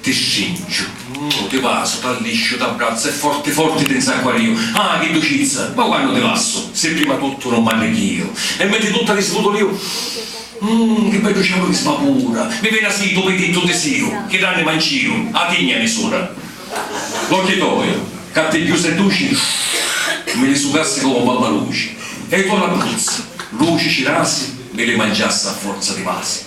Ti stringiu, ti vasu, t'allisciu, t'abbrazzu e forti forti ti nzacquariu. Ah, chi ducizza! Ma quannu ti lassu, si prima tuttu nun m'arrichiu e mentri tutta ti sputuliu, Umm, chi beddu cielu chi svapura! Mi veni a siti u pitittu tisiu, chi d'anima nciu, a tigna nisura. L'occhi toi, ca pi cchiù sei duci, mi li sucassi comu babba luci, e i to' rabbuzzi, luci cirasi, mi li mangiassi a forza di vasi.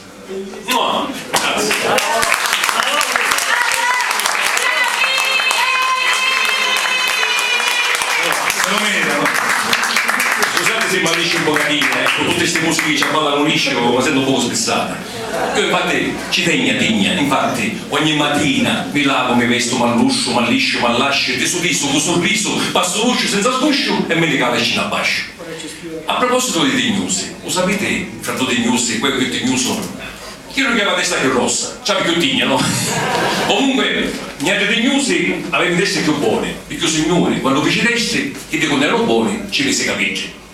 Pe pati ci tegna tigna, infatti, ogni matina mi lavu, mi vestu, m'allusciu, m'allisciu, m'allasciu e ti sudisu cu surrisu, passu ruciu senza sgusciu e mi li cavi scina abbasciu. A propositu di tignusi, u sapiti, fra du tignusi, cu è cchiù tignusu? Chiddu chi havi a testa cchiù rossa, ci havi cchiù tigna, no? Comunque, niatri tignusi avemu i testi cchiù boni, picchì u Signuri, quannu fici i testi, chiddi cu n'eranu boni, ci misi i capiddi.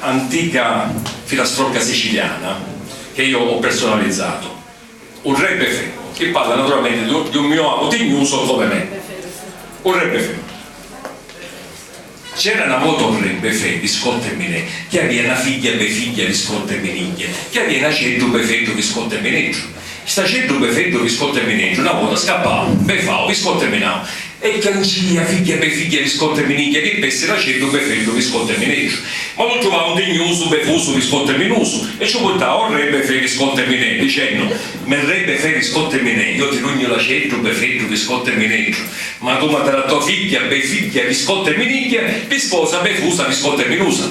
antica filastrocca siciliana che io ho personalizzato, u Re Befemo, chi parla naturalmente di un mio amu tignuso come me. U Re Befemo. C'era na vota un Re Befè viscotta e minè, chi avia na figghia Befigghia viscotta e minigghia, chi avia n'aceddu Befeddu viscotta e mineddru, St'aceddu pe freddu vi scotta e mineddu, na vota scappau, be fau, vi scotta e minau. E chiangia, figghia be figghia, vi scotta e minigghia, chi pessi l'aceddu be freddu vi scotta e mineddu. Ma lu truvau ndignusu, be fusu, vi scotta e minusu, e ciu purtau o re be fre vi scotta e minè, dicennu, Me re be fre vi scotta e minè, io ti dugnu l'aceddu be freddu vi scotta e mineddu, ma tu m'ha dara to figghia be figghia vi scotta e minigghia, vi sposa be fusa vi scotta e minusa.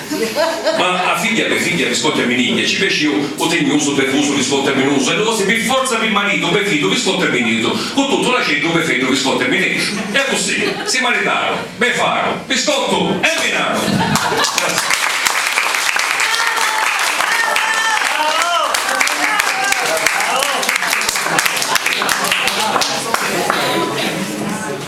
Ma a figghia pe figghia vi scotta e minigghia, ci piaci iu, u tegnusu pe vusu vi scotta e minusu, e lu vosi pi forza pi maritu o pe fiddu vi scotta e minitu, cu tuttu l'aceddu pe feddu vi scotta e minetu. E accussì, si maritaru, be faru, vi scottu e minatu! Grazie.